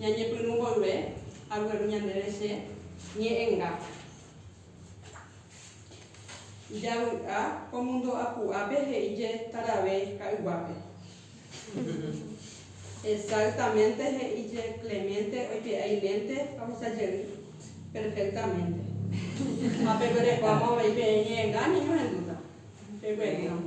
Ñañepyrũ mboyve, agueru ñandéve che ñe'ẽnga. Javy'a ko mundo apu'ápe he'i jetarave ka'yguápe. Exactamente he'i je Clemente oipe'a ilénte ha ohesa jey perfectamente. Ha peguerekuáma avei peẽ ñe'ẽnga, ñañohendúta. Pegueríramo.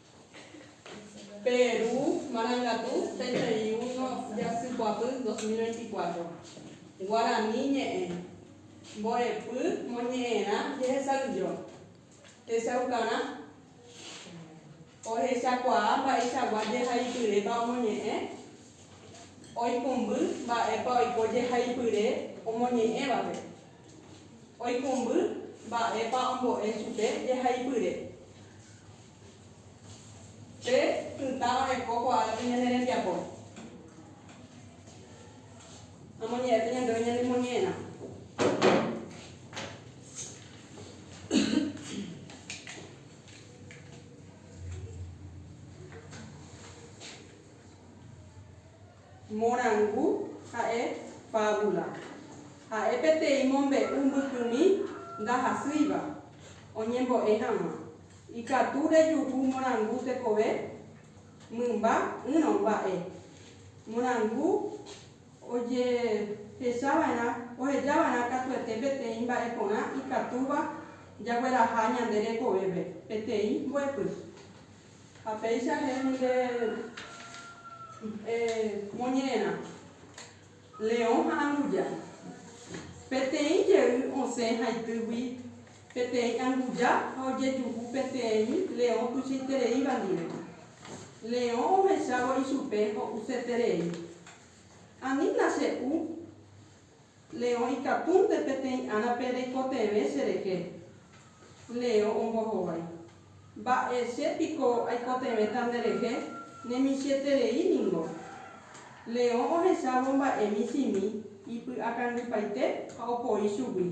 Pe Ru marangatu peteĩ uno jasykuapy 2024. Guarani ñe'ẽ, Mborepy moñe'ẽrã jehesavyjo. Techaukarã. Ohechakuaa mba'eichagua jehaipyrépa omoñe'ẽ. Oikũmby mba'épa oiko jehaipyre omoñe'ẽvape. Oikũmby mba'épa ombo'e chupe jehaipyre. Pe pytã oreko ko'águi ñane rembiapo. Amoñe'ẽta ñandéve ñanemoñe'ẽrã. Morangu ha'e fábula. Ha'e peteĩ mombe'u mbykymi ndahasýiva oñembo'e hag̃ua. Ikatu rejuhu morangu tekove mymba ỹrõ mba'e. Morangu ojehechava'erã, ohejava'erã katuete peteĩ mba'e porã ikatúva jagueraha ñande rekovépe, peteĩ mbo'epy. Ha péicha he'ími nde moñe'ẽrã, leõ ha anguja. Peteĩ jey osẽ haitýgui peteĩ anguja ha ojejuhu peteĩ leõ tuichaitereíva ndive. Leõ ohechávo ichupe ho'useterei. Ani nache'u. Leo ikatúnte peteĩ árape reikotevẽ cherehe. Leo ombohovái. Mba'e che piko aikotevẽta nderehe, ne michĩeterei ningo. Leo ohechávo mba'e michĩmi ipy'akangypaite ha opoi chugui.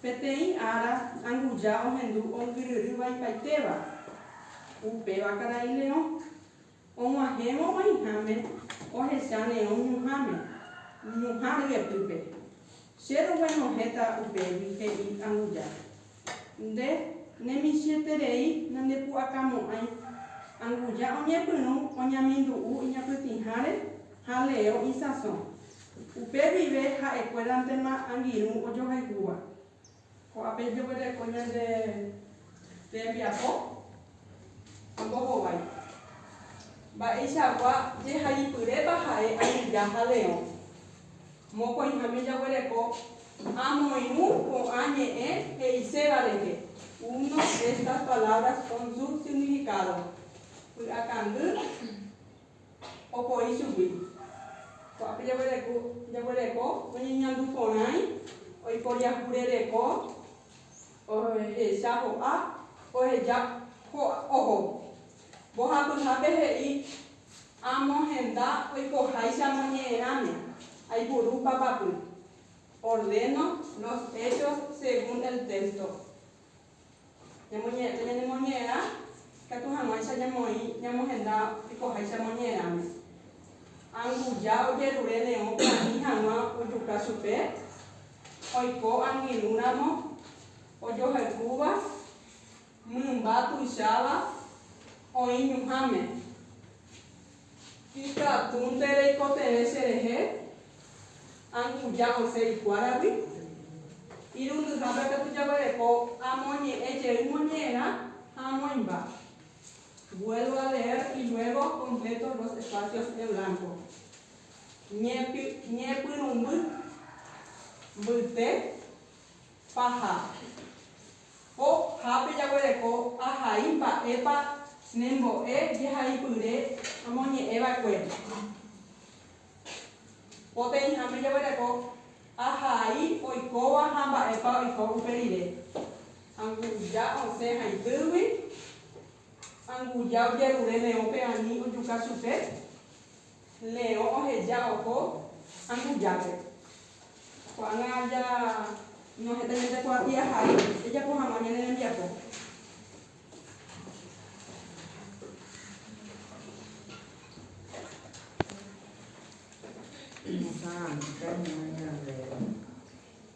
Peteĩ ára anguja ohendu ongyryry vaipaitéva. Upéva karai Leo. Og̃uahẽvo oĩháme ohecha neõ ñuhãme, ñuhã ryepýpe. Che roguenohẽta upégui, he'i Anguja. Nde nemichĩeterei nandepu'akamo'ãi. Anguja oñepyrũ oñamindu'u iñapytĩháre ha Leo isãso. Upe guive ha'ekuérantema angirũ ojohaygúva. Ko'ápe jeguereko ñande rembiapo ombohovái. Mba'eichagua jehaipyrépa ha'e añeja ha leõ. Mokõiháme jaguereko amoirũ ko'ã ñe'ẽ he'iséva rehe, uno de estas palabras con su significado, py'akangy, opoi chugui. Ko'ápe jaguereko, jaguereko oñeñandu porãi, oikoriahure reko, ohecha ho'a, oheja ho'a oho. Mbohapyhápe he'i, Amo henda oikoháicha moñe'ẽrãme, aipuru papapy. Ordeno los hechos según el texto. Ñamoñe'ẽta ñanemoñe'ẽrã ikatu hag̃uáicha ñamoĩ ñamohenda oikoháicha moñe'ẽrãme. Anguja ojerure neõ pya'ami hag̃ua ojuka chupe, oiko angirũramo ojohayhúva mymba tuicháva oĩ ñuhãme. Ikatúnte reikotevẽ cherehe, anguja osẽ ikuáragui. Irundyhápe katu jaguereko amoñe'ẽ jey moñe'ẽrã ha amoĩmba. Vuelvo a leer y luego completo los espacios en blanco. Ñepyrũmby. Mbyte. Paha. Ko hápe jaguereko ahai mba'épa ne mbo'e jehaipyre romoñe'ẽ va'ekue. Poteĩ hápe jaguereko ahai oikóva ha mba'épa oiko upe rire. Anguja osẽ haitýgui, anguja ojerure meõpe ani ojuka chupe. Leõ oheja oho ambujápe. Ko'ág̃a aja nohetaiménte kuapi ahai ejapo hag̃ua ñane rembiapo.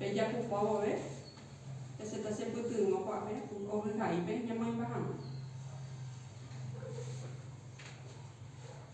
Pejapupa vove peseta chepytyvõ kuape ovyhaípe ñamoĩmba hag̃ua.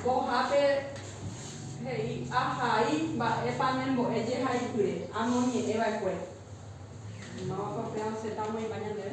Mbohápe he'i ahai mba'épa ne mbo'e jehaipyre amoñe'ẽ va'ekue. Máva papéva osẽta omoĩva ñandéve.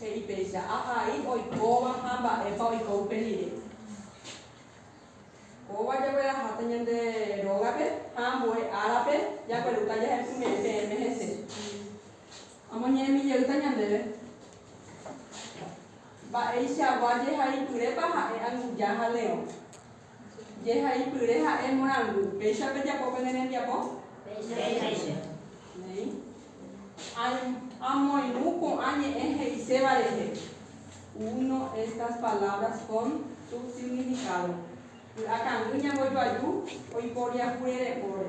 He'i péicha, Ahai oikóva ha mba'épa oiko upe rire. Kóva jagueraháta ñande rógape ha ambue árape jaguerúta jahepyme'ẽ peẽme hese. Amoñe'ẽmi jeýta ñandéve. Mba'eichagua jehaipyrépa ha'e anguja ha leõ. Jehaipyre ha'e morangu. Péicha pejapo pene rembiapo? Péicha. Néi. Aim, amoirũ ko'ã ñe'ẽ he'iséva rehe. Uno estas palabras con subsignificado. Py'akangy ñambojoaju oiporiahurerekóre.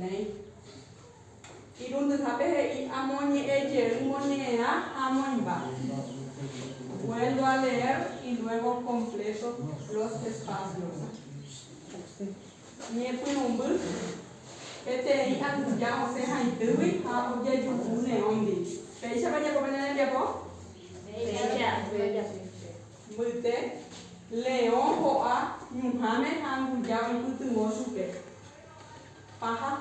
Néi. Irundyhápe he'i amoñe'ẽ jey moñe'ẽa ha amoĩmba. Vuelvo a leer y luego completo los espacios. Ñepyrũmby, peteĩ anguja osẽ haitýgui ha ojejuhu neóndi. Péichapa jeko pende rembiapo? Péicha. Mbyte, leõ ho'a ñuhãme ha anguja oipytyvõ chupe. Paha.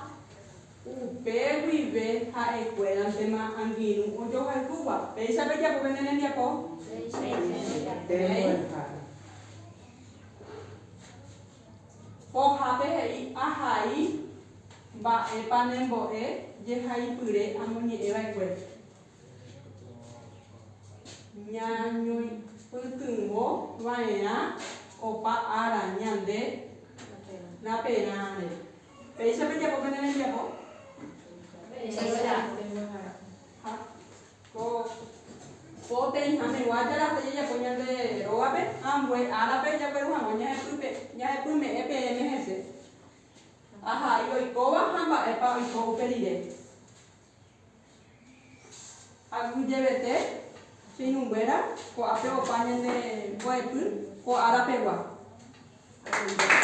Upe guive ha'ekuérantema angirũ ojohayhúva. Péicha pejapo pende rembiapo? Péicha. Pohápe he'i, Ahai mba'épa ne mbo'e jehaipyre amoñe'ẽva'ekue. Ñañoipytyvõ va'erã opa ára ñande raperãre. Péicha pejapo pene rembiapo? Péicha. Ha ko poteĩha megua jarape jajapo ñande rógape ha ambue árape jagueru hag̃ua ñahepype, ñahepyme'ẽ peẽme hese. Ahai oikóva ha mba'épa oiko upe rire. Aguyjevete, cheirũnguéra, ko'ápe opa ñande mbo'epy ko ára pegua. Aguiyetépe.